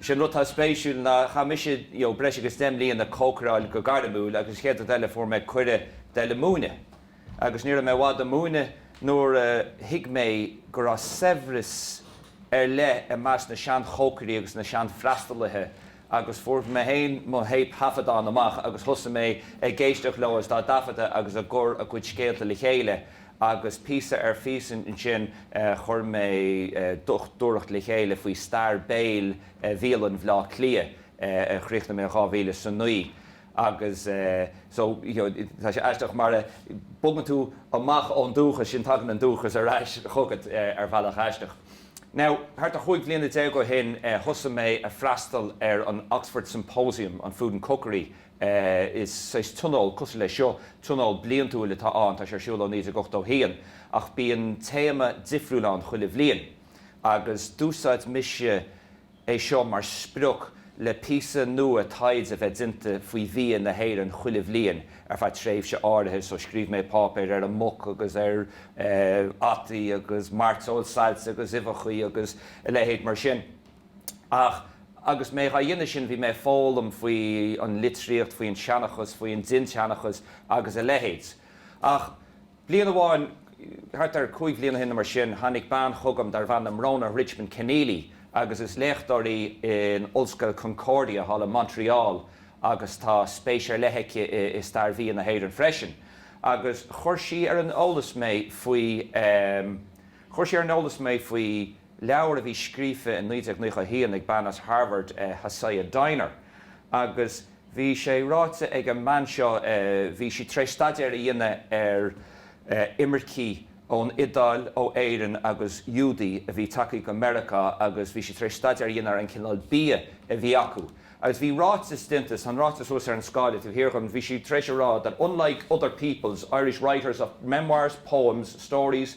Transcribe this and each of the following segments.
Is é an rud atá spéisiúil ná, chaith mise breis agus deich mbliain ag cócaireáil go gairmiúil agus an chéad rud eile fuair mé cuireadh dul ag múineadh. Agus ní raibh mé i bhfad ag múineadh nuair a thuig mé go raibh saibhreas ar leith i measc na seanchócairí agus na seanfhreastalaithe agus fuair mé féin mo théipthaifeadán amach agus thosaigh mé ag éisteacht leo is dá dtaifeadadh agus ag cur a gcuid scéalta le chéile agus píosa ar phíosa ansin chuir mé dochtúireacht le chéile faoi stair béil bhialann Bhleá Cliath a chríochnaigh mé in 2009 agus so tá sé aisteach má bhogann tú amach ón dúchas sin tagann an dúchas ar ais chugat ar bhealach aisteach. Now thart ar chúig bhliana déag ó shin thosaigh mé ag freastal ar an Oxford Symposium on Food and Cookery é. Is saghas tionól cosúil leis seo, tionól bliantúil atá ann, tá sé ar siúl ó 1981, ach bíonn téama difriúil ann chuile bhliain, agus d'úsáid mise é seo mar sprioc le píosa nua taighde a bheith déanta faoi bhia na hÉireann chuile bhliain ar feadh tréimhse áirithe, so scríobh mé páipéir ar an muic agus ar fhataí agus mairteoil sailte agus uibheachaí agus a leithéid mar sin. Ach agus mé á dhéanamh sin, bhí mé ag foghlaim faoi an litríocht, faoi an seanchas, faoi an dindsheanchas agus a leithéid. Ach bliain amháin, thart ar chúig bhliana shin nó mar sin, tháinig bean chugam darbh ainm Rhona Richman Kenneally agus is léachtóir í in Ollscoil Concordia thall in Montreal agus tá spéis ar leith aici i stair bhia na hÉireann freisin. Agus chuir sí ar an eolas mé faoi, Chuir sí ar an eolas mé faoi leabhar a bhí scríofa i 1991 ag bean as Harvard, Hasia Diner, agus bhí sé ráite ag an mbean seo, bhí sí tar éis staidéar a dhéanamh ar imircigh ón Iodáil, ó Éirinn agus Iúdaigh a bhí tagtha go Meiriceá agus bhí sí tar éis staidéar a dhéanamh ar an chineál bia a bhí acu. Agus bhí ráiteas déanta, tá an ráiteas thuas ar an scáileáin taobh thiar dhíom, bhí sí tar éis a rá that unlike other peoples, Irish writers of memoirs, poems, stories,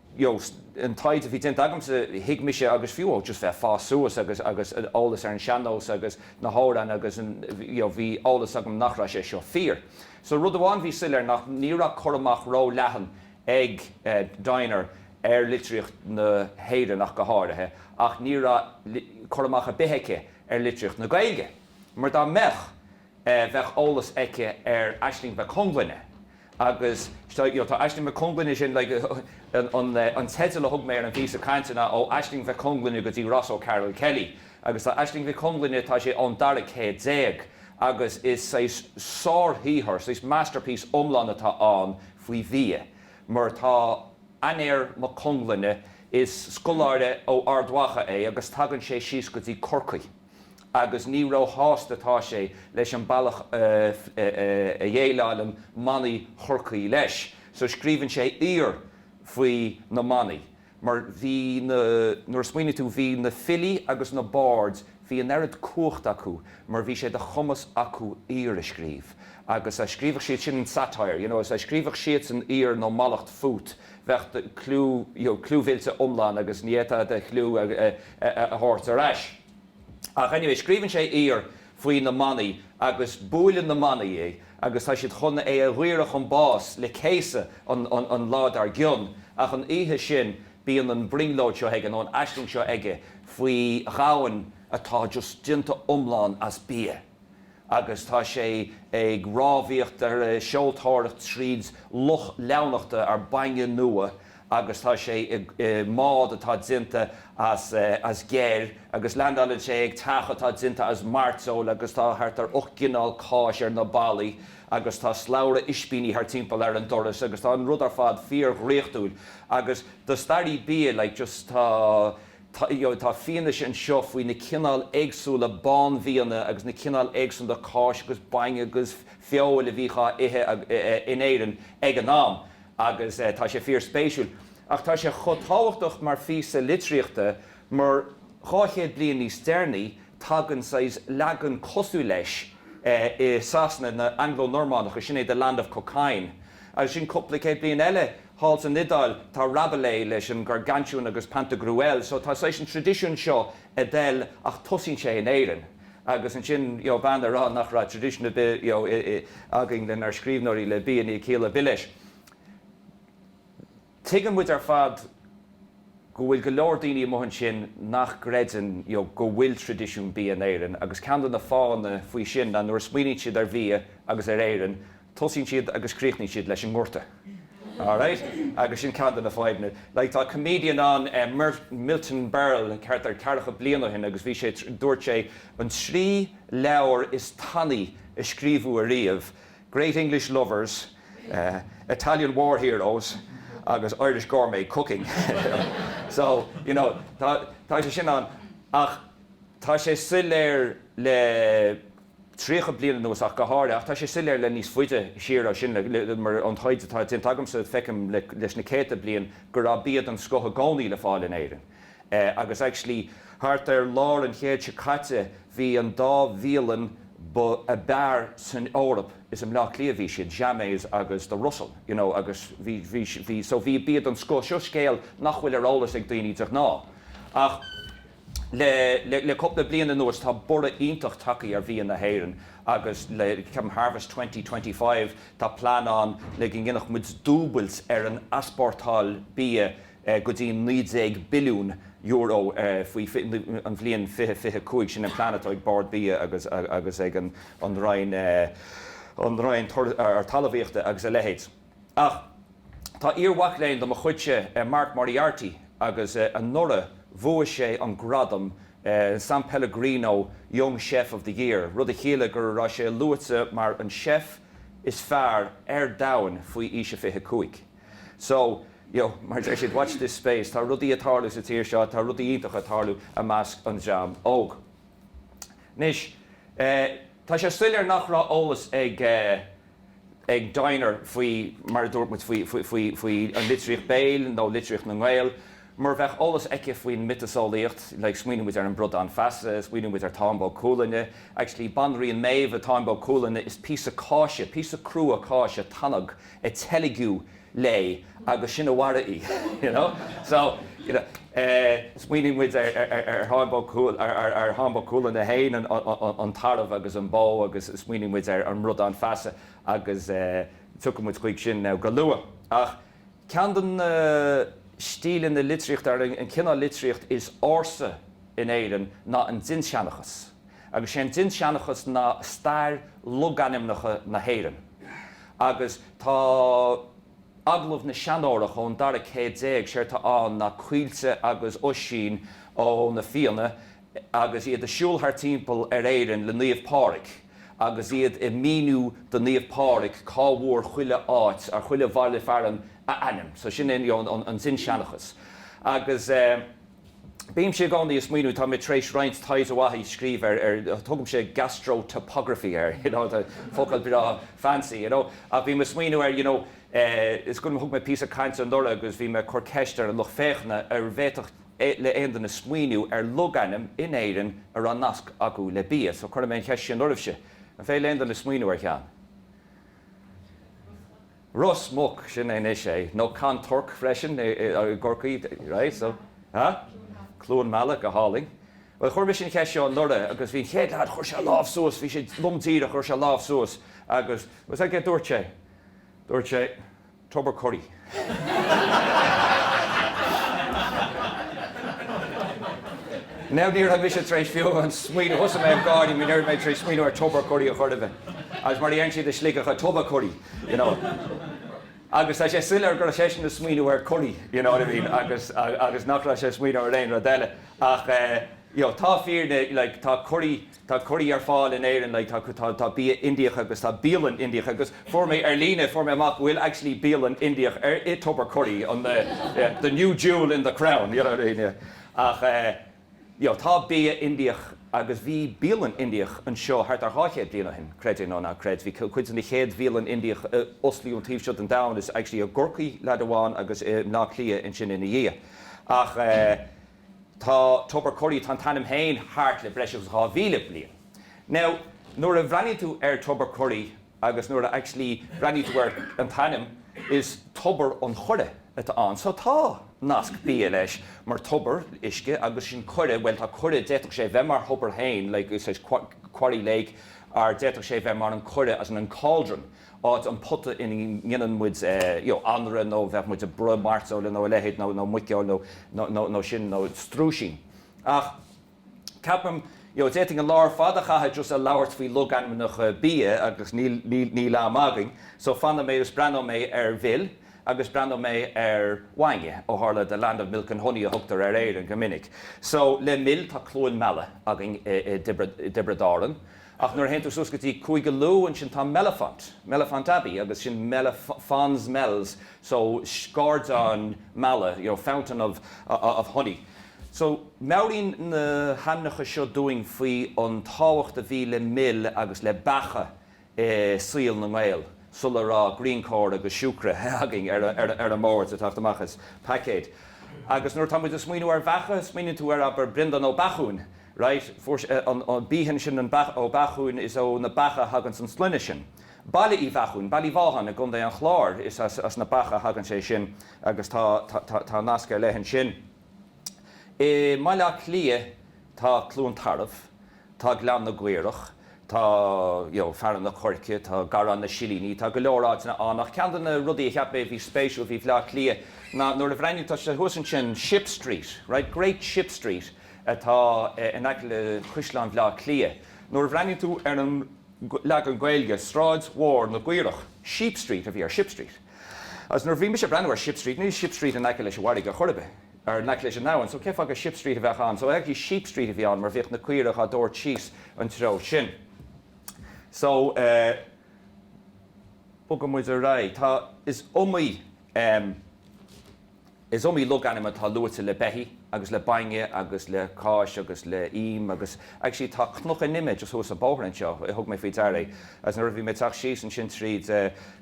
you know, an taighde a bhí déanta agamsa, thuig mise agus fiú ó just bheith ag fás suas agus, agus an eolas ar an sean-nós agus na hamhráin agus an, you know, bhí eolas agam nach raibh sé seo fíor. So rud amháin bhí soiléir ná, ní raibh cur amach ró-leathan ag Diner ar litríocht na hÉireann ach go háirithe ach ní raibh cur amach ar bith aici ar litríocht na Gaeilge mar dá mbeadh, bheadh eolas aici ar Aislinge Mhic Conglinne agus tá Aislinge Mhic Conglinne sin like an teideal a thug mé ar an phíosa cainte ná Ó Aislinge Mhic Conglinne go dtí Ross O'Carroll-Kelly agus tá Aislinge Mhic Conglinne tá sé ón dara céad déag agus is saghas sárshaothar, saghas masterpiece iomlán atá ann faoi bhia mar tá Aniér Mac Conglinne is scoláire ó Ard Mhacha é agus tagann sé síos go dtí Corcaigh. agus ní róshásta atá sé leis an bealach a dhéileálann manaigh Chorcaí leis. So scríobhann sé aoir faoi na manaigh, mar bhí na, nuair a smaoiníonn tú, bhí na filí agus na baird, bhí an oiread cumhacht acu, mar bhí sé de chumas acu aoir a scríobh. Agus dá scríobhadh siad, sin an satire, you know, is dá scríobhadh siadsan aoir nó mallacht fút, bheadh do chliú, cliú millte iomlán agus ní fhéadfá do chliú a thabhairt ar ais. Ach anyway, scríobhann sé aoir faoi na manaigh agus buaileann na manaigh é agus tá siad chun é a dhaoradh chun báis le céasadh an lá dár gcionn. Ach an oíche sin bíonn an brionglóid seo aige, nó an aisling seo aige faoi dhomhan atá just déanta iomlán as bia. agus tá sé ag rámhaíocht nó ag seoltóireacht tríd loch leamhnachta nó bainne nua agus tá sé i mbád atá déanta as geir agus leandáileann sé ag teach atá déanta as mairteoil agus tá thart ar ocht gcineál cáis ar na ballaí agus tá slabhra ispíní thart timpeall ar an doras agus tá an rud ar fad fíor dhraíochtúil agus do staraí bia like just tá. Tá fianaise anseo faoi na cineáil éagsúla bánbhianna agus na cineáil éagsúla cáis agus bainne agus feoil a bhíodh á ithe in Éirinn ag an am agus tá sé fíorspéisiúil. Ach tá sé chomh tábhachtach mar phíosa litríochta mar, dhá chéad bliain níos deireanaí, tagann saghas leagan cosúil leis i Sasana na Anglo-Normannacha, sin é The Land of Cockaigne, agus ansin cúpla céad bliain eile, Thall san Iodáil tá Rabelais leis an Gargantuan agus Pantagruel so tá saghas an tradisiúin seo ag dul ach tosaíonn sé in Éirinn agus ansin you know bean a rá nach raibh traidisiún ar bith you know againn dár scríbhneoirí le bia ná a leithéid de bit leis tuigeann muid ar fad go bhfuil go leor daoine amuigh ansin nach gcreideann you know go bhfuil tradisiún bia in Éirinn agus ceann de na fáthanna faoi sin ná nuair a smaoiníonn siad ar bhia agus ar Éirinn Tosaíonn siad agus críochnaíonn siad leis an ngorta. Alright? Agus sin ceann de na fadhbanna. Like, tá comedian ann, eh, Mer, Milton Berle, thart ar ceathracha bliain ó shin agus bhí sé, dúirt sé, an trí leabhar is tanaí a scríobhadh ariamh, Great English Lovers, eh, Italian War Heroes agus Irish Gourmet Cooking. So, you know, tá, tá sé sin ann ach tá sé soiléir le. 30 bliain anuas ach go háirithe, ach tá sé soiléir le níos faide siar ná sin, mar ón taighde atá déanta agamsa feicim leis na céadta bliain go raibh bia den scoth i gcónaí le fáil in Éirinn agus actually thart ar lár an chéid seo caite bhí an dá bhialann ab fhearr san Eoraip, is i mBleá Cliath a bhí siad, Jammet's agus The Russell you know agus bhí, bhí, bhí, so bhí bia den scoth, seo scéal nach bhfuil ar eolas ag daoine de ghnáth ach. Le cúpla bliain anuas tá borradh iontach tagthaí ar bhia na hÉireann agus le ceapaim Harvest Twenty Twenty Five tá plean ann le go ndéanfadh muid dúbailt ar an easpórtáil bia go dtí €19,000,000,000 faoi an bhliain fiche fiche cúig. Sin an plean atá ag Bord Bia agus agus ag an an Roinn an Roinn Talmhaíochta agus a leithéid. Ach tá iar-mhac léinn de mo chuidse, Mark Moriarty, agus anuraidh bhuaigh sé an gradam San Pellegrino Young Chef of the Year, rud a chiallaigh go raibh sé luaite mar an chef is fearr ar domhain faoi aois a 25. So, you know, mar a deir siad, watch this space, tá rudaí ag tarlú sa tír seo, tá rudaí iontacha ag tarlú i measc an dream óg. Anois, tá sé soiléir nach raibh eolas ag. ag Dinah faoi mar a dúirt muid faoi an litríocht béil nó litríocht na nGael, mura bheadh eolas aici faoin mhiotaseolaíocht, like, smaoinigh muid ar an Bradán Feasa, smaoinigh muid ar Táin Bó Cuailgne, actually banríon Méabh sa Táin Bó Cuailgne is píosa cáise, píosa crua cáise tanag a teilgeadh léi agus sin a mharaigh í. you know? So, you know, smaoinigh muid ar, ar, ar Tháin Bó Cúail, ar, ar, ar Tháin Bó Cuailgne féin, an, an, an, an tarbh agus an bó agus smaoinigh muid ar an mBradán Feasa agus tiocfaidh muid chuig sin now go luath. Ach ceann de na stíleanna litríochta, nó an cineál litríocht is ársa in Éirinn ná an dinnseanchas. agus sé an dinnseanchas ná stair logainmneacha na hÉireann agus tá Agallamh na Seanórach ón dara céad déag, séard atá ann ná Caoilte agus Oisín ó na Fianna agus iad ag siúl thart timpeall ar Éirinn le Naomh Pádhraic agus iad ag míniú do Naomh Pádhraic cá bhfuair chuile áit or chuile bhaile fearann a ainm so sin é an dinnseanchas agus eh. Bímse i gcónaí ag smaoineamh, tá mé tar éis roinnt taighde mhaith a scríobh ar, tugaimse gastro-topography air, you know, focal breá fancy, you know, ach bhí mé ag smaoineamh ar, you know, is cuma, thug mé píosa cainte anuraidh agus bhí mé ag cur ceist ar an lucht féachana an bhféadfadh le aon duine smaoineamh ar logainm in Éirinn a raibh nasc acu le bia, so cuirfidh mé an cheist sin oraibhse, an féidir le aon duine smaoineamh ar cheann? Ros Muc, sin é anois é, nó Ceann Toirc freisin i gCorcaigh, right, so, ha? Cluain Meala, go hálainn. Bhuel, chuir mise an cheist seo anuraidh agus bhí an chéad leaid, chuir sé a lámh suas, bhí sé lom díreach, chuir sé a lámh suas agus, séard a dúirt sé, dúirt sé, Tobar Curry. Now, ní raibh mise tar éis fiú amháin smaoineamh, thosaigh mé ag gáire mar ní raibh mé tar éis smaoineamh ar Tobar Curry a chor ar bith, agus mar a deireann siad i Sligeach, Tubbercurry. you know. Agus tá sé soiléir go raibh seisean ag smaoineamh ar curry, you know what I mean, agus, agus nach raibh sé ag smaoineamh ar aon rud eile. Ach eh, you know, tá fírinne, like, tá curry, tá curry ar fáil in Éirinn, like, tá, tá, tá bia Indiach agus tá bialann Indiach agus fuair mé ar líne, fuair mé amach go bhfuil actually bialann Indiach ar, i Tubbercurry, an, yeah, the new jewel in the crown, you know what I mean, yeah. Ach eh. you know, tá bia Indiach agus bhí bialann Indiach anseo thart ar dhá chéad bliain ó shin, creid é nó ná creid. Bhí cuid de na chéad bhialann Indiach a osclaíodh an taobh seo den domhan is actually, i gCorcaigh leaid amháin agus i mBleá Cliath ansin ina dhiaidh. Ach eh tá Tobar Curry, tá an t-ainm féin thart le breis agus dhá mhíle bliain. Now nuair a bhreathnaíonn tú ar Tobar Curry, agus nuair a actually bhreathnaíonn tú ar an t-ainm is Tobar an Choire atá ann so tá nasc bia leis mar tobar uisce agus sin coire bhuel tá coire d'fhéadfadh sé bheith mar thobar féin like is é sin corrie lake or d'fhéadfadh sé bheith mar an coire as in an cauldron áit an pota ina ndéanann muid you know anraith nó bheadh muid ag bruith mairteola nó a leithéid nó muiceoil nó nó nó sin nó struisín ach Ceapaim, you know, d'fhéadfainn an lá ar fad a chaitheamh just ag labhairt faoi logainmneacha bia agus níl, níl, níl am againn so fanfaidh mé agus breathnóidh mé ar mhil agus breathnóidh mé ar bhainne ó tharla the land of milk and honey a thugtar ar Éirinn go minic. So le mil tá Cluain Meala againn i dTiobraid Árann. Ach nuair a théann tú suas go dtí Contae Lú, ansin tá Mellifont, Mellifont Abbey, agus sin Melle, Fons Mellis, so, scairdeán meala, you know, fountain of, of honey. So, meabhraíonn na hainmneacha seo dúinn faoi an tábhacht a bhí le mil agus le beacha i saol na nGael, sula raibh Greencore agus siúcra againn ar an mbord, ag teacht amach as paicéid. Agus nuair atá muid ag smaoineamh ar bheacha, smaoiníonn tú ar, abair, Breandán Ó Beachúin, Right, fuair sé an Behan sin an beach Ó Beachúin is ó na beacha a thagann an sloinne sin. Baile Uí Bheachúin, Ballyvaughan i gContae an Chláir is as as na beacha a thagann sé sin agus tá tá tá nasc ar leith ansin. I mBaile Átha Cliath tá Cluain Tarbh, tá Gleann na gCaorach, tá you know Fearann an Choirce, tá Garrán na Silíní, tá go leor áiteanna ann ach ceann de na rudaí a cheap mé a bhí spéisiúil faoi Bhaile Átha Cliath ná nuair a bhreathnaíonn tú thuas ansin Ship Street, right, Great Ship Street, atá in aice le Caisleán Bhleá Cliath. Nuair a bhreathnaíonn tú ar an leagan Gaeilge, Sráid Mhór na gCaorach, Sheep Street a bhí ar Ship Street. Agus nuair a bhí mise ag breathnú ar Ship Street, níl Ship Street in aice leis an bhfarraige ar chor ar bith, or in aice leis an abhainn, so cé fáth go Ship Street a bheadh ann? So actually Sheep Street a bhí ann mar bhíodh na caoirigh á dtabhairt síos an treo sin. So eh bogfaidh muid ar aghaidh, tá, is iomaí ehm. Is iomaí logainm atá luaite le beithí agus le bainne agus le cáis agus le him agus actually tá cnoc an ime just thuas an bóthar anseo, thug mé faoi deara é agus nuair a bhí mé ag teacht síos ansin tríd,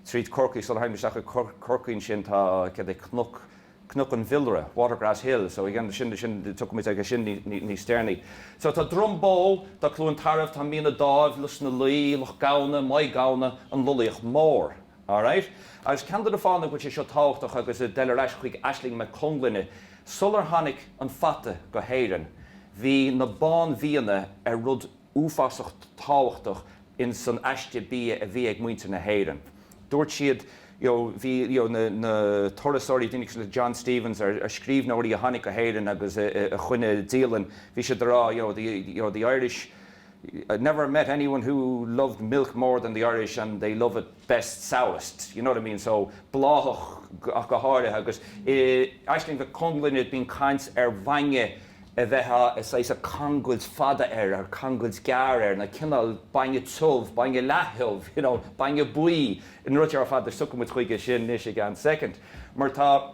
tríd Corcaigh sular tháinig mé isteach go Corcaigh ansin tá céard é cnoc, cnoc an bhiolaire, Watergrass Hill, so again sin, sin tiocfaidh muid chuige sin níos deireanaí. So tá Droim Bó, tá Cluain Tarbh, tá Mín an Daimh, Lios na Lao, Loch Gamhna, Maigh Gamhna, An Loilíoch Mhór. Alright. Agus ceann de na fáthanna go bhfuil sé seo tábhachtach agus ag dul ar ais chuig Aisling Mhic Conglinne, sular tháinig an fata go hÉireann, bhí na bánbhianna ar rud uafásach tábhachtach in san aiste bia a bhí ag muintir na hÉireann. Dúirt siad, you know, bhí, you know, na, na turasóirí, daoine ar nós John Stevens, or, or scríbhneoirí a tháinig go hÉireann agus a, a, a choinnigh dialann, bhí siad a rá, you know, the, you know, the Irish, I never met anyone who loved milk more than the Irish and they love it best sourest, you know what I mean so bláthach go háirithe agus i Aisling Mhic Conglinne bíonn caint ar bhainne a bheith saghas cangailt fada air or cangailt gearr air na cineál bainne tiubh, bainne leath-thiubh, you know bainne buí, na rudaí seo ar fad so tiocfaidh muid chuige sin anois i gceann soicind mar tá.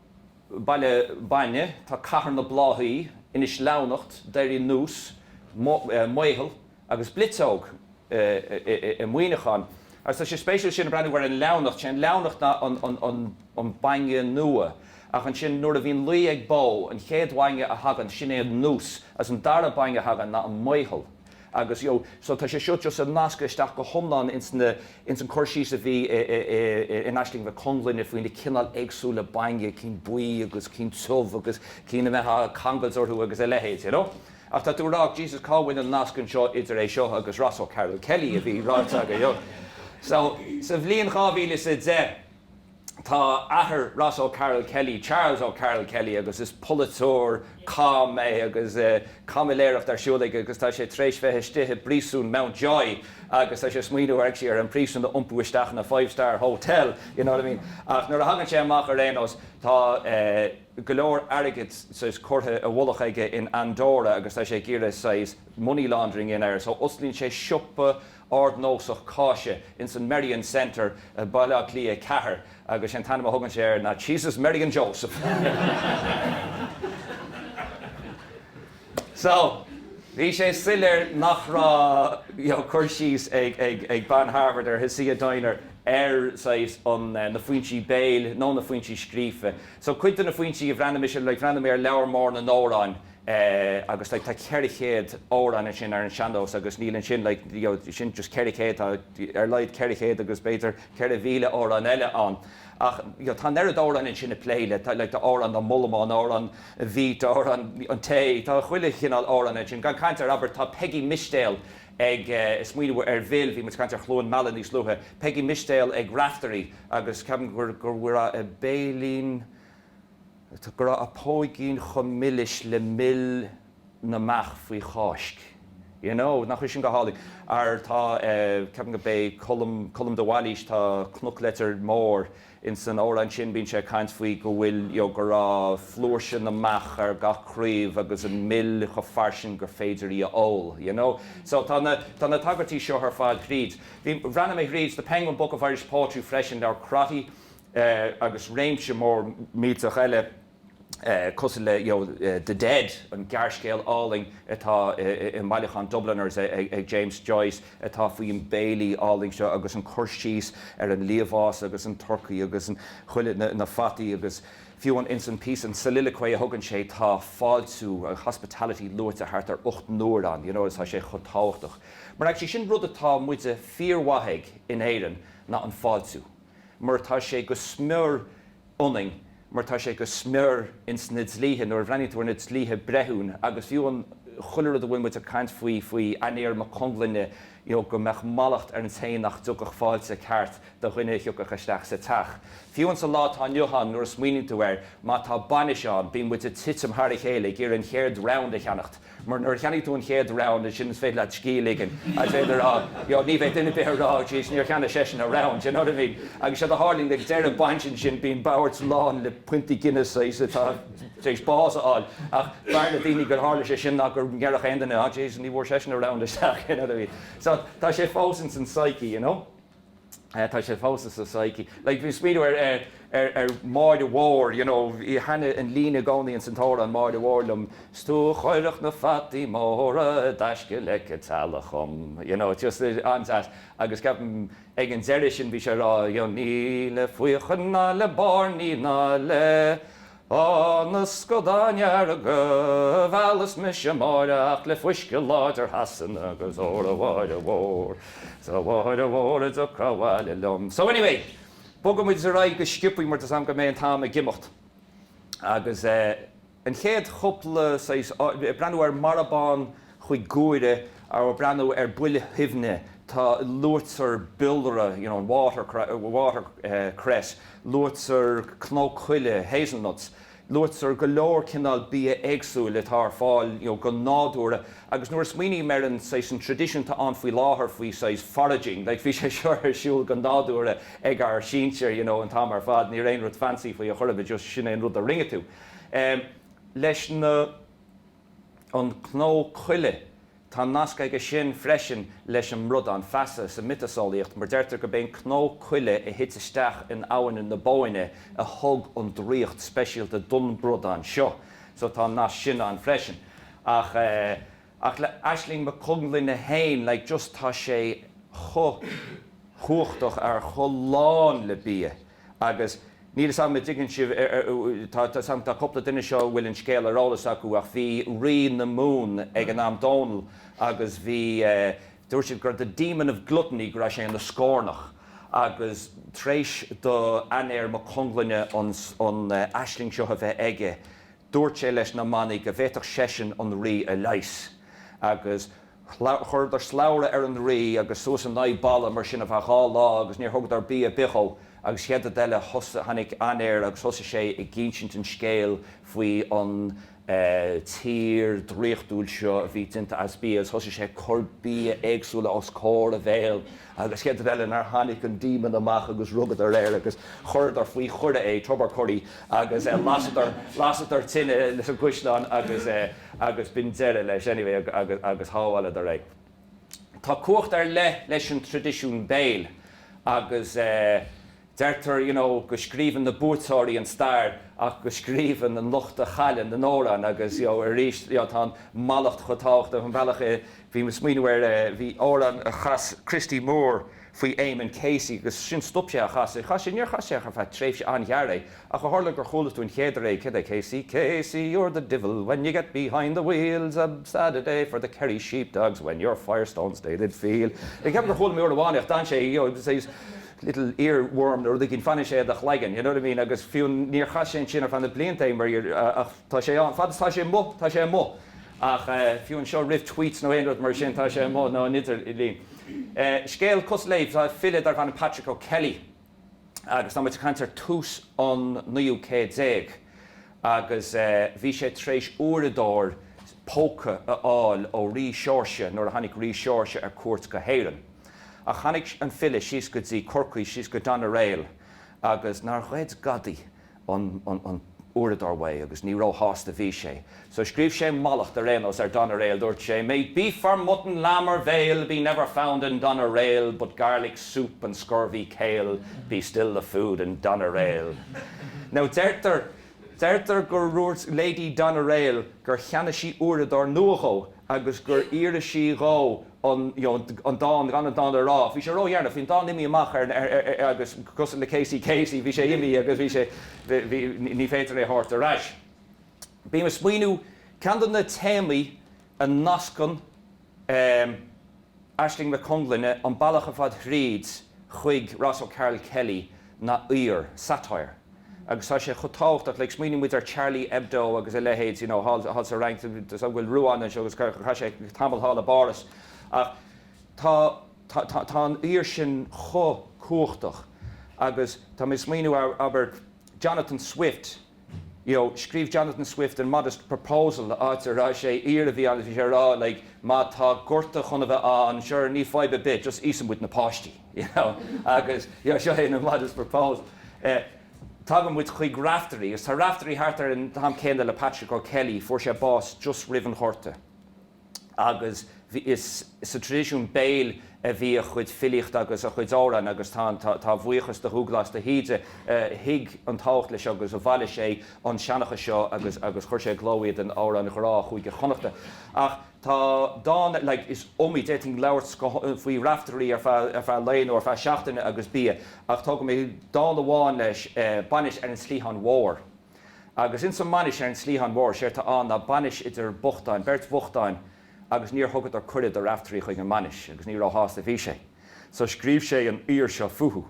Baile Bainne, tá Cathair na Bláthaí, Inis Leamhnacht, Doirín Nús, Maothail agus Bliotseog i Muineachán. Agus tá sé spéisiúil, sin ag breathnú ar an leamhnacht, sé an leamhnacht ná an bainne nua. Ach ansin, nuair a bhíonn lao ag bó, an chéad bhainne a thagann, sin é an nús, agus an dara bainne a thagann ná an maothal. Agus, you know, so tá sé seo just ag nascadh isteach go hiomlán ins na, ins an cur síos a bhí i, i, i, i, in Aisling Mhic Conglinne faoi na cineáil éagsúla bainne, cinn buí agus cinn tiubh agus cinn a mbeitheá a' cangailt orthu agus a leithéid, you know. Ach tá tú a' rá, Jesus, cá bhfuil an nasc anseo idir é seo agus Ross O'Carroll Kelly a bhí ráite agat, you know. So, sa bhliain dhá mhíle is a deich, Tá athair Ross O'Carroll Kelly, Charles O'Carroll Kelly, agus is polaiteoir cam é agus caimiléireacht ar siúl aige agus tá sé tar éis bheith istigh i bpríosún Mountjoy agus tá sé ag smaoineamh actually ar an príosún a iompú isteach ina five star hotel you know what I mean ach nuair a thagann sé amach ar aon nós tá go leor airgead saghas curtha i bhfolach aige in Andorra agus tá sé ag iarraidh saghas money laundering a dhéanamh air so osclaíonn sé siopa ardnósach cáise ins an Merrion Centre i mBaile Átha Cliath 4 agus an t-ainm a thugann sé air ná Cheeses Merrion Joseph. So, bhí sé soiléir nach raibh, you know, cur síos ag, ag, ag bean Harvard ar Hasia Diner ar, saghas, an, na foinsí béil nó na foinsí scríofa. So cuid de na foinsí a bhreathnaigh mise, like, bhreathnaigh mé ar Leabhar Mór na nAmhrán agus like tá ceithre chéad amhrán ansin ar an sean-nós agus níl ansin like you know sin just ceithre chéad tá ar laghad ceithre chéad agus b'fhéidir ceithre mhíle amhrán eile ann ach you know tá an oiread amhráin ansin ag plé le like tá amhrán na mbollamán amhrán an bheet amhrán an tae tá chuile chineál amhrán ansin gan caint ar abair tá Peigí Mistéal ag eh smaoineamh ar bhfil bhí muid ag caint ar Chluain Meala níos luaithe Peigí Mistéal ag Raifteirí agus ceapaim gur gur bhfuair a eh béilín Go raibh a póigín chomh milis le mil na mbeach faoi Cháisc. You know! Nach bhfuil sin go hálainn? Ara tá eh, ceapaim gurb é Colm, Colm de Bhailís, tá Cnoc Leitir Móir ins an amhrán sin, bíonn sé ag caint faoi go bhfuil, you know, go raibh flúirse na mbeach ar gach craobh agus an mil chomh fairsing gur féidir í a ól, you know? So tá na, tá na tagairtí seo ar fad thríd. Bhí, bhreathnaigh mé thríd The Penguin Book of Irish Poetry freisin, leabhar Crotty, agus réimse mór millteach eile cosúil le The Dead, an gearrscéal álainn atá i mbailiúchán Dubliners ag James Joyce atá faoin béilí álainn seo agus an cur síos ar an liamhás agus an turcaí agus an chuile na fataí agus fiú an ins an píosa an soliloquy a thugann sé tá fáiltiú hospitality luaite thart ar ocht n-uaire ann you know tá sé chomh tábhachtach mar actually sin rud atá muide fíormhaith ag in Éirinn ná an fáiltiú. mar tá sé go smior ionainn, mar tá sé go smior ins na dlíthe, nuair a bhreathnaíonn tú ar na dlíthe breithiún, agus fiú an, chuile rud a bhfuil muid ag caint faoi, faoi Aniér Mac Conglinne, you know, go mbeadh mallacht ar an té nach dtugfadh fáilte ceart do dhuine a thiocfadh isteach sa teach. Fiú ins an lá atá inniu ann, nuair a smaoiníonn tú air, má tá bainis ann, bíonn muid ag titim thar a chéile ag iarraidh an chéad round a cheannacht, Mar nuair a cheannaigh tú an chéad round, ansin is féidir leat scíth a ligean agus féidir a rá you know ní bheidh duine ar bith ag rá oh jeez níor cheannaigh seisean a round do you know what I mean? Agus séard a tharlaíonn ag deireadh an bhainis ansin bíonn boird lán le piontaí Guinness saghas atá tar éis bás a fháil ach b'fhearr le daoine gur tharla sé sin ná go ndéarfadh aon duine oh jeez ní bhfuair seisean a round isteach you know what I mean? So tá sé fós ins an psyche you know? tá sé fós insa psyche like bhí smaoineamh ar ar ar ar Máire Mhór you know thaitin an líne i gcónaí ins an t-amhrán Máire Mhór liom 's tú a chuirfeadh na fataí móra i dtaisce leic a' teallaigh dhom you know it's just it's an-deas agus ceapaim ag an deireadh sin bhí sé a' rá you know ní le faochain ná le bairnigh ná le Ó na scadáin dhearga, mheallas mise Máire ach le fuisce láidir Shasana agus óra a Mháire Mhór, 's a Mháire Mhór an dtiocfá abhaile liom So anyway, bogfaidh muid ar aghaidh go sciobtha mar tá 'fhios a'm go mbeidh an t-am ag imeacht agus eh an chéad chúpla saghas, breathnú ar Marbhán, chuig guaire ag breathnú ar buile shuibhne tá luaitear biolra you know water cress water cress luaitear cnó coille hazelnuts luaitear go leor cineál bia éagsúil atá ar fáil you know go nádúrtha agus nuair a smaoiním ar an saghas an tradition atá ann faoi láthair faoi saghas foraging like bhí sé seo ar siúl go nádúrtha ag ár sinsir you know an t-am ar fad ní raibh aon rud fancy faoi a chor ar bith just sin é an rud a rinne tú leis na. an cnó coille. Tá nasc aige sin freisin leis an mbradán feasa sa mhiotaseolaíocht, mar deirtear gurb é an cnó coille a thit isteach in abhainn na Bóinne a thug an draíocht speisialta don bhradán seo. So tá an nasc sin ann freisin. Ach eh, ach le Aisling Mhic Conglinne féin, like just tá sé chomh cumhachtach, ar chomh lán le bia, Agus níl 'fhios a'm a' dtuigeann sibh, tá 'fhios a'm tá cúpla duine anseo a bhfuil an scéal ar eolas acu ach bhí Rí na Mumhan ag an am, Dónall, agus bhí eh, dúirt siad gur the demon of gluttony go raibh sé ina scornach agus tar éis do Ainéar Mac Conglinne an, an aisling seo a bheith aige dúirt sé leis na manaigh go bhféadfadh seisean an Rí a leigheas agus Chuireadar slabhra ar an rí agus suas in aghaidh balla mar sin ar feadh dhá lá agus níor thugadar bia ar bith dhó agus chéad rud eile thos tháinig ainéar agus thosaigh sé ag insint an scéal faoi an tír draíochtúil seo a bhí déanta as bia agus thosaigh sé ag cur bia éagsúla os comhair a bhéal agus chéad rud eile nár tháinig an Demon amach agus rugadar air agus chuireadar faoi choire é, Tobar Corry, agus lasadar, lasadar tine sa gcaisleán agus, agus b'in deireadh leis anyway agus, agus shábháileadar é. Tá cumhacht ar leith leis an traidisiún béil agus. Deirtear, you know, go scríobhann na buaiteoirí an stair ach go scríobhann an lucht a chailleann na hamhráin agus, you know, arís, you know, tá an mallacht chomh tábhachtach, an bealach a, bhí mé ag smaoineamh air, eh, bhí amhrán a chas Christy Moore faoi Eamonn Casey agus sin, stop sé á chasadh, chas sé, níor chas sé ach ar feadh tréimhse an-ghearr é ach ó tharla gur chuala tú an chéad uair é, céard é, Casey, Casey, you're the divil when you get behind the wheel, 's a sad a day for the Kerry sheepdogs when your Firestones they did feel. Ag ceapadh gur chuala mé uair amháin é ach d'fhan sé, you know, little ear worm nó rud éigin, fanfaidh sé i do chlaigeann, you know what I mean, agus fiú níor chas sé ansin ar feadh na blianta é mar gheall, ach tá sé ann, fad is atá sé amuigh, tá sé amuigh, ach fiú seo roimh tweets nó aon rud mar sin, tá sé amuigh, nó an idirlíon. Scéal cosúil léi, tá file darb ainm Patrick O'Kelly agus tá muid ag caint ar tús an naoú céad déag agus bhí sé tar éis uaireadóir póca a fháil ó Rí Seoirse nuair a tháinig Rí Seoirse ar cuairt go hÉirinn. Ach tháinig an file síos go dtí Corcaigh, síos go Doneraile, agus nár ghoid gadaí an uaireadóir uaidh, agus ní róshásta a bhí sé. So scríobh sé mallacht ar aon nós ar Doneraile, dúirt sé, May beef or mutton, lamb or veal, Be never found in Doneraile, But garlic soup and scurvy kale, Be still the food in Doneraile. Now deirtear, deirtear gur dhúirt Lady Doneraile gur cheannaigh sí uaireadóir nua dhó agus gur iarr sí dhó, an you know an dán gan an dán a rá bhí sé ródheireanach bhí an dán imithe amach ar ar ar agus cosúil le Casey Casey bhí sé imithe agus bhí sé bhí ní féidir é thabhairt ar ais bhí mé ag smaoiniú ceann de na téamaí a nascann ehm Aisling Mac Conglinne an bealach ar fad thríd chuig Ross O'Carroll Kelly ná aoir, satire. Agus tá sé chomh tábhachtach, like, smaoinigh muid ar Charlie Hebdo agus a leithéid, you know, thall, thall sa Fhrainc, so an bhfuil Ruán anseo agus chaith, chaith sé tamall thall i bPáras ach tá, tá, tá, tá an aoir sin chomh cumhachtach agus tá mé ag smaoiniú ar, abair, Jonathan Swift, you know, scríobh Jonathan Swift an modest proposal, áit a raibh sé aoir a bhí ann, bhí sé ag rá like má tá gorta chun a bheith ann, sure, ní fadhb ar bith, just íosfaidh muid na páistí, you know, agus, you know, seo é an modest proposal. Eh, tagann muid chuig Raiftearaí, agus tá Raiftearaí thart ar an t-am céanna le Patrick O'Kelly, fuair sé bás just roimh an ghorta. agus is sa traidisiún béil a bhí a chuid filíochta agus a chuid amhrán agus tá an tá a bhuíochas do Dhubhghlas de hÍde a thuig an tábhacht leis seo agus a bhailigh sé an seanchas seo agus agus chuir sé i gcló iad in Amhráin Ghrá Chúige Chonnachta ach tá dán like is iomaí d'fhéadfainn labhairt go faoi Raiftearaí ar feadh ar feadh lae nó ar feadh seachtaine agus bia ach tógfaidh mé dán amháin leis eh bainis ar an tSleadhthán Mhór. Agus ins an mbainis ar an Sleadhthán mhór, séard tá ann ná bainis idir bochtáin, beirt bhochtáin agus níor thugadar cuireadh do Raiftearaí chuig an mbainis agus ní ró-shásta a bhí sé. So scríobh sé an aoir seo fúthu.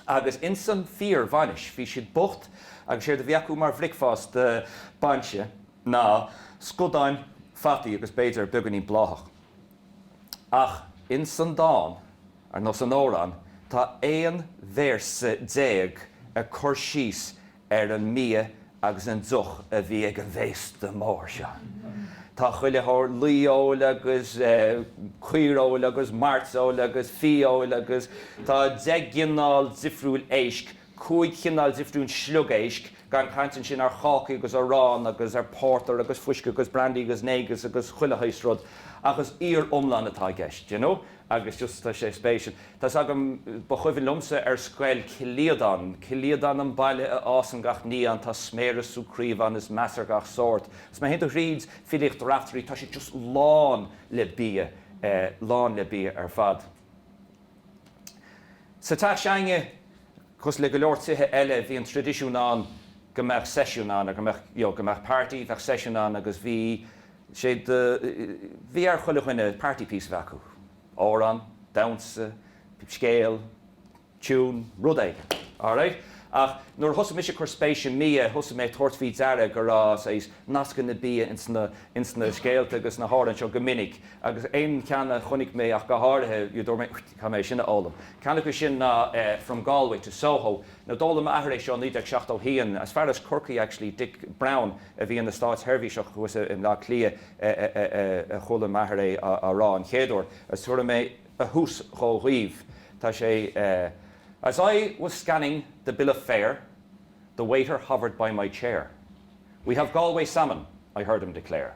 Agus ins an fíor bhainis, bhí siad bocht agus séard a bhí acu mar bhricfeásta bainse ná scadáin fataí agus b'fhéidir beagainín bláthach. Ach ins an dán, ar nós an amhráin, tá aon véarsa déag ag cur síos ar an mbia agus an deoch a bhí ag an bhféasta mór seo. Tá chuile shórt laofheoil agus caoireoil agus mairteoil agus fiafheoil agus tá deich gcineál difriúil éisc cúig chineál difriúil sliogéisc, gan caint ansin ar chácaí agus arán agus ar pórtar agus fuisce agus brandy agus negus agus chuile shaghas rud, ach is aoir iomlán atá i gceist, you know, agus just tá sé spéisiúil. Tá 's agam, ba chuimhin liomsa ar scoil, Cill Aodáin, Cill Aodáin an baile a fhásann gach ní ann, tá sméara is sú craobh ann is meas ar gach sórt. 'S má théann tú thríd filíocht Raiftearaí, tá sé just lán le bia, lán le bia ar fad. Sa teach s'againne, cosúil le go leor tithe eile, bhí an traidisiún ann go mbeadh seisiún ann, go mbeadh, you know, go mbeadh party, bheadh seisiún ann agus bhí sé de, bhí ar chuile dhuine party piece a bheith acu, amhrán, damhsa, scéal, tune, rud éigin, alright? Ach nuair a thosaigh mise ag cur spéis i mbia, thosaigh mé ag tabhairt faoi deara go raibh, saghas, nascanna bia ins na, ins na scéalta agus na hamhráin seo go minic agus aon cheann a chonaic mé ach go háirithe, a dúirt mé, caithfidh mé é sin a fhoghlaim. Ceann acu sin ná From Galway to Soho, nó d'fhoghlaim m'athair é seo i 1971, is fear as Corcaigh actually, Dick Browne a bhí ina státsheirbhíseach thuas i mBleá Cliath a chuala m'athair é á rá an chéad uair, agus tabharfaidh mé a thús dhó dhaoibh, tá sé As I was scanning the bill of fare, The waiter hovered by my chair, We have Galway salmon, I heard him declare.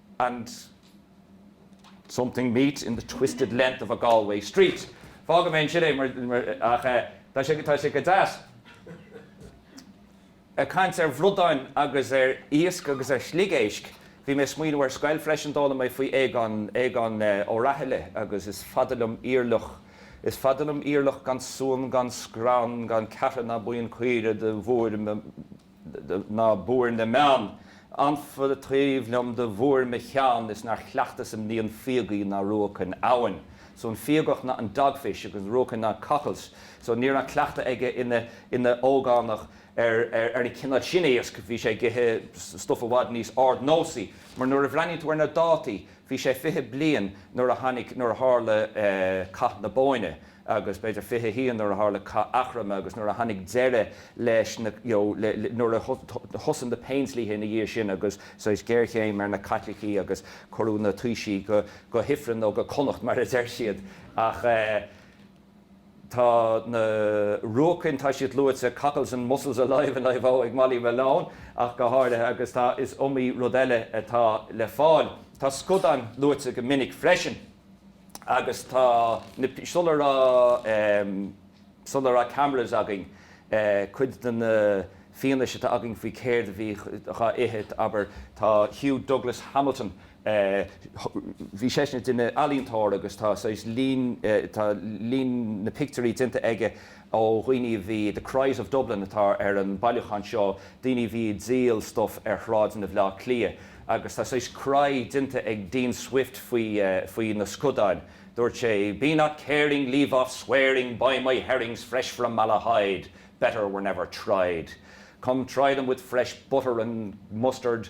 and something meet in the twisted length of a Galway street'. Fágfaidh mé ansin é mar, ach eh, tá sé, tá sé go deas ag caint ar bhradáin agus ar iasc agus ar shliogéisc. Bhí mé ag smaoineamh ar scoil freisin, d'fhoghlaim mé faoi Aogán, Aogán eh, Ó Rathaille agus is fada liom oíche fhírfhliuch, is fada liom oíche fhírfhliuch gan suan gan srann gan ceathra ná maoin caoire do bhuair Ná buair na mbeann. Anfa taobh liom do bhuair mo cheann is nár chleachtas im naíon fíogaigh ná ruacain abhann. So an fíogach ná an dogfish agus ruacain ná cockles. So ní raibh an cleachtadh aige ina ógánach ar an chineál sin iasc, bhí sé ag ithe stuff i bhfad níos ardnósaí. Mar nuair a bhreathnaíonn tú ar na dátaí, bhí sé fiche bliain nuair a tháinig, nuair a tharla Cath na Bóinne. agus b'fhéidir 21 nuair a tharla Cath Eachroma agus nuair a tháinig deireadh leis na, you know, le, le, nuair a thosaigh na péindlíthe ina dhiaidh sin agus, saghas, géarchéim ar na Caitlicigh agus cuireadh na taoisigh go, go hIfreann nó go Connacht mar a deir siad. Ach eh. tá na ruacain, tá siad luaite, cockles and mussels alive alive-o, ag Molly Malone ach go háirithe agus tá, is iomaí rud eile atá le fáil. Tá scadáin luaite go minic freisin. agus tá na, sula raibh, sula raibh cameras againn, cuid den fhianaise atá againn faoi céard a bhí dhá ithe, abair, tá Hugh Douglas Hamilton, bhí seisean ag déanamh, ealaíontóir, agus tá saghas lín, tá lín phictiúirí déanta aige, ó dhaoine a bhí, The Cries of Dublin atá ar an mbailiúchán seo, daoine a bhí ag díol stuif ar shráideanna Bhaile Átha Cliath agus tá saghas cry déanta ag Dean Swift faoi, faoi na scadáin. Dúirt sé, Be not caring, leave off swearing, buy my herrings fresh from Malahide, better were never tried. Come try them with fresh butter and mustard,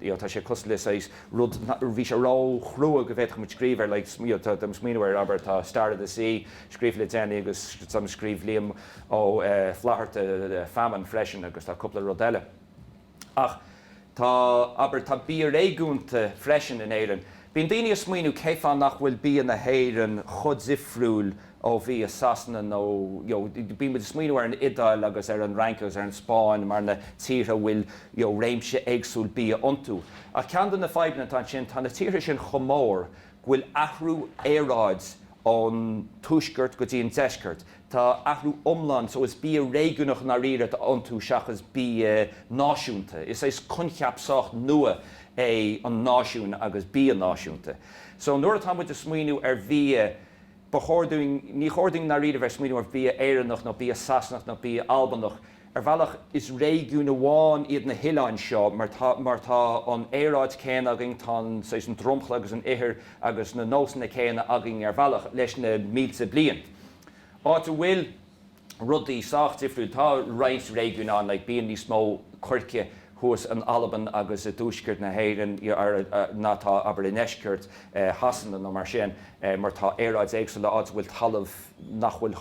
you know tá sé cosúil le saghas rud bhí sé ró-chrua go bhféadfadh muid scríobh air like you know tá mé ag smaoineamh air abair tá Star of the Sea scríofa le déanaí agus ansin scríobh Liam Ó Flaithearta Famine freisin agus tá cúpla rud eile ach tá abair tá bia réigiúnach freisin in Éirinn bíonn daoine a' smaoineamh cé fáth nach bhfuil bia na hÉireann chomh difriúil ó bhia Shasana nó you know bíonn muid ag smaoineamh ar an Iodáil agus ar an Fhrainc agus ar an Spáinn mar na tíortha a bhfuil you know réimse éagsúil bia iontu ach ceann de na fadhbanna atá ansin tá na tíortha sin chomh mór go bhfuil athrú aeráid ón tuaisceart go dtí an deisceart tá athrú iomlán so is bia réigiúnach i ndáiríre atá iontu seachas bia náisiúnta is é coincheap sách nua é an náisiún agus bia náisiúnta so nuair atá muid ag smaoineamh ar bhia Ba chóir dúinn, ní chóir dúinn i ndáiríre bheith ag smaoineamh ar bhia Éireannach nó bia Sasanach nó bia Albanach. Ar bhealach, is réigiún amháin iad na hoileáin seo mar tá, mar tá an aeráid céanna againn, tá an, saghas, an dromchla agus an ithir agus na nósanna céanna againn ar bhealach, leis na mílte bliain. Áit a bhfuil. rudaí sách difriúil. Tá roinnt réigiúin ann, like bíonn níos mó coirce thuas in Albain agus i dtuaisceart na hÉireann ná atá, abair, i ndeisceart Shasana nó mar sin, mar tá aeráid éagsúil, áit a bhfuil talamh nach bhfuil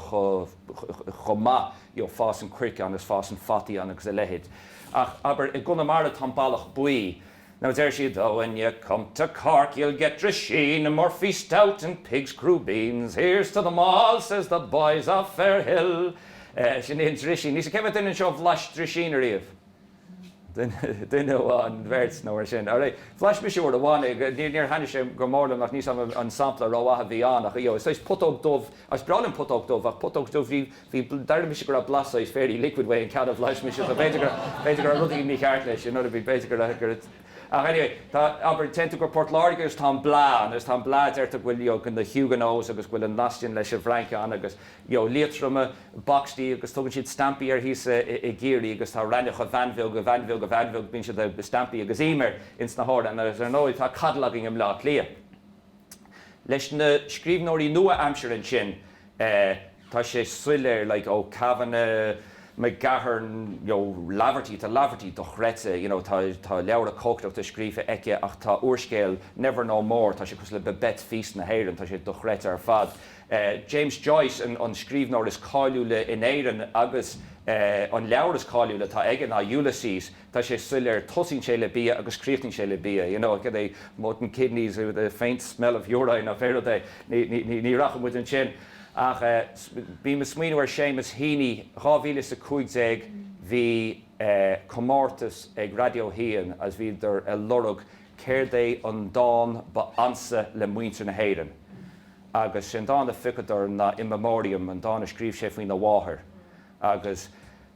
chomh maith, you know, fásann coirce ann agus fásann fataí ann agus a leithéid. Ach, abair, i gConamara tá an ballach buí, Nó deir siad, Oh when you come to Cork you'll get drisheen and Murphy's stout and pig's crubeens, here's to them all says the boys of Fairhill. Sin é an drisín. Níl a fhios agam cé mhéad duine anseo a bhlais drisín ariamh? Duine amháin, beirt nó mar sin. Alright. Bhlais mise uair amháin é. Níor thaitin sé go mór liom ach ní sampla rómhaith a bhí ann ach, you know, is saghas putóg dubh, is breá liom putóg dubh ach putóg dubh, bhí, bhí, d'airigh mise go raibh blas saghas Fairy Liquid ón gceann a bhlais mise, so b'fhéidir gur, b'fhéidir go raibh rud éigin mícheart leis, you know what I mean, b'fhéidir go raibh, gur, ach anyway, tá, abair, téann tú go Port Láirge agus tá an blaa ann, agus tá an blaa, deirtear go bhfuil, you know, na Huguenots agus go bhfuil an nasc sin leis an bhFrainc ann agus, you know, Liatroim, boxty agus tugann siad stampaí air thíos i gCiarraí agus tá Raithneach a Bhean Bheag, bíonn siad, stampaí agus im air ins na hamhráin agus ar ndóigh tá coddle againn i mBleá Cliath. Leis na scríbhneoirí nua-aimsire ansin, tá sé soiléir, like, oh, Kavanagh, McGahern, you know, Laverty, tá Laverty dochreidte, you know, tá leabhra cócaireachta scríofa aici ach tá úrscéal Never No More, tá sé cosúil le Babette's Feast na hÉireann, tá sé dochreidte ar fad. James Joyce, an scríbhneoir is cáiliúla in Éirinn agus an leabhar is cáiliúla atá aige ná Ulysses. tá sé soiléir, tosaíonn sé le bia agus críochnaíonn sé le bia, you know, cad é mutton kidneys with a faint smell of urine nó pé rud é, ní rachaidh muid ansin ach bhí mé ag smaoineamh ar Seamus Heaney, dhá mhíle is a cúig déag, bhí comórtas ag Raidió hAon agus bhíodar ag lorg céard é an dán ba ansa le muintir na hÉireann agus is é an dán a phiocadar ná In Memoriam, an dán a scríobh sé faoina mháthair agus.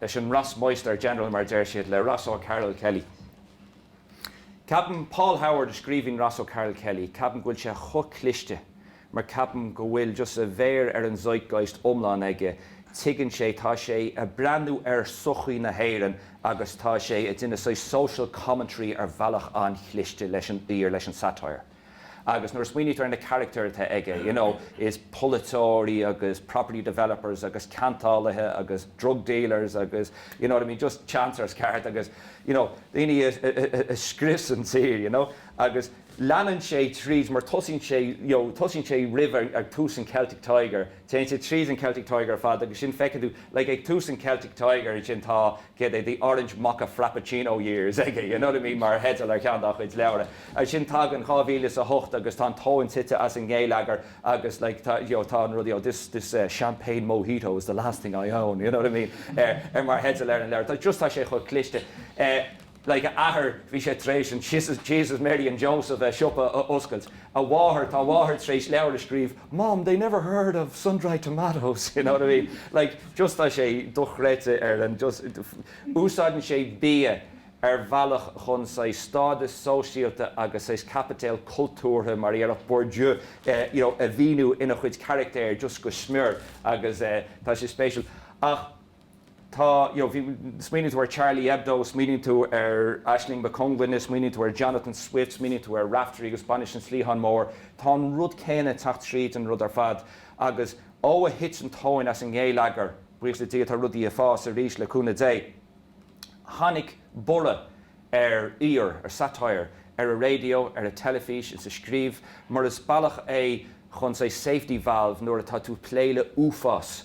leis an Rossmeister General, mar a deir siad, le Ross O'Carroll Kelly. Ceapaim, Paul Howard a scríobhann Ross O'Carroll Kelly, ceapaim go bhfuil sé chomh cliste mar ceapaim go bhfuil just a mhéar ar an zeitgeist iomlán aige, tuigeann sé, tá sé a' breathnú ar shochaí na hÉireann agus tá sé a' déanamh saghas social commentary ar bhealach an-chliste leis an aoir, leis an satire. Agus nuair a smaoinítear ar na carachtair atá aige, you know, is polaiteoirí agus property developers agus ceantálaithe agus drug dealers agus, you know what I mean, just chancers cearta agus, you know, daoine a scrios an tír, you know. Agus leanann sé tríd mar tosaíonn sé, you know, tosaíonn sé roimh, ag tús an Celtic Tiger, téann sé tríd an Celtic Tiger ar fad agus ansin feiceann tú like ag tús an Celtic Tiger ansin tá céard é The Orange Mocha Frappuccino Years aige you know what I mean mar theideal ar cheann dá chuid leabhra ansin tagann dhá mhíle is a hocht agus tá an tóin tite as an ngeilleagar agus like tá you know tá rudaí ó this this uh Champagne Mojito is the last thing I own you know what I mean ar ar mar theideal ar an leabhar tá just tá sé chomh cliste eh like, a athair, bhí sé tar éis an Jesus, Mary and Joseph, eh, siopa a oscailt. A mháthair, tá a mháthair tar éis leabhar a scríobh, Mom, they never heard of sun-dried tomatoes, you know what I mean? Like, just tá sé dochreidte ar an, just, úsáideann sé bia ar bhealach chun saghas stádas sóisialta agus saghas caipiteal cultúrtha, mar a dhéarfadh Bourdieu, eh, you know, a mhíniú ina chuid carachtair just go smior agus, eh, tá sé spéisiúil. Ach. tá, you know, bhí, smaoiníonn tú ar Charlie Hebdo, smaoiníonn tú ar Aisling Mhic Conglinne, smaoiníonn tú ar Jonathan Swift, smaoiníonn tú ar Raiftearaí agus Bainis an tSleatháin Mhóir, tá an rud céanna ag teacht tríd an rud ar fad agus ó a thit an tóin as an ngéilleagar, buíochas le Dia tá rudaí ag fás arís le cúnamh Dé, tháinig borradh ar aoir, ar satire, ar an raidió, ar an teilifís, insa scríobh, mar is bealach é chun, say, safety valve nuair atá tú ag plé le uafás,